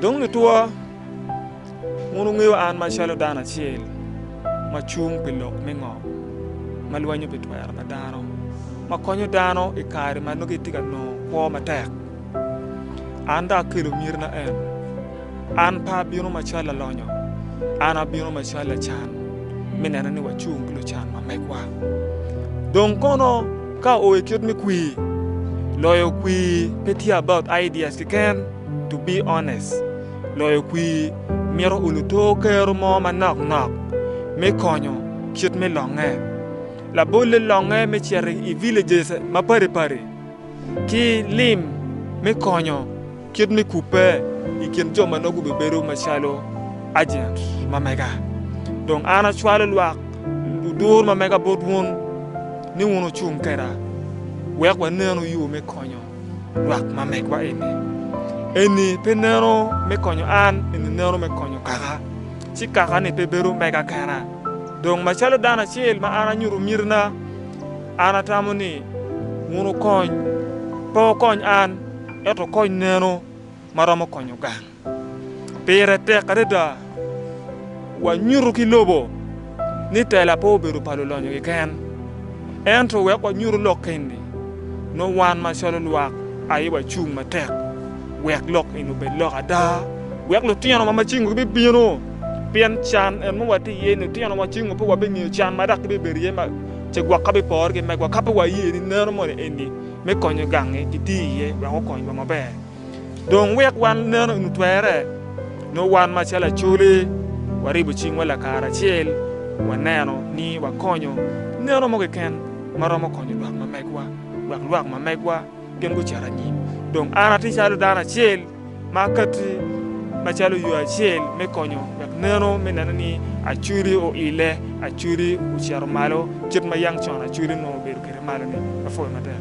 Dong lutwa, wun wungeyo an macalo dano acel ma cung pi lok me ngom, ma lwenyo pi twero pa dano, ma konyo dano i kare ma nongo gitye ka nongo kwo matek. An dong akelo mitna eno, an pe abino macalo lalonyo, an abino macalo lacan, me neno ni wacung ki lucan ma megwa. Dong kono ka oo i kit me kwir, loyo kwir pe tye about ideas keken, To be honest, loyo kwir mito olo to kero mo manok nok me konyo kit me longe. Labolle longe me cito i villages mapadi padi ki lim me konyo kit me kubbe i kin jo ma nongo gubibedo macalo agent ma mega. Dong an acwalo lwak ludur ma mega bot wun ni wun wucung keda wek wanenu yo me konyo. lwak ma megwa eni. Eni pe neno me konyo an, eni neno me konyo kaka, ci kaka-ni pe bedo mega kena. Dong macalo dano acel ma an anyuto mitina, an atamo ni wun wukony, pe wukony an, ento wukony neno ma romo konyo gang. Pire tek adada wanyuto ki lobo ni tela pe obedo pa lulonyo keken, ento wek wanyuto lok eni, nongo wan macalo lwak aye wacung matek wek lok eni obed lok ada, wek lutino ma macingwa gibibino, pien can en ma watye iye-ni, lutino macingwa pe wabingeyo can ma dok gibibedo iye, ce gwok ka bipore ki megwa ka pe waye ni neno moni eni me konyo gangi gitye iye wek okonywa maber. Dong wek wan meno eni otwerre, nongo wan macalo Acholi waribo cingwa lakaracel waneno ni wakonyo neno mo keken ma romo konyo lwak ma megwa, wek lwak ma megwa gin gucit anyim. Dong an atye calo dano acel ma akati macalo yo acel me konyo wek neno me neno ni Acholi oile, Acholi ocito malo kit ma yang con Acholi onongo obedo kwede malo-ni. Apwoyo matek.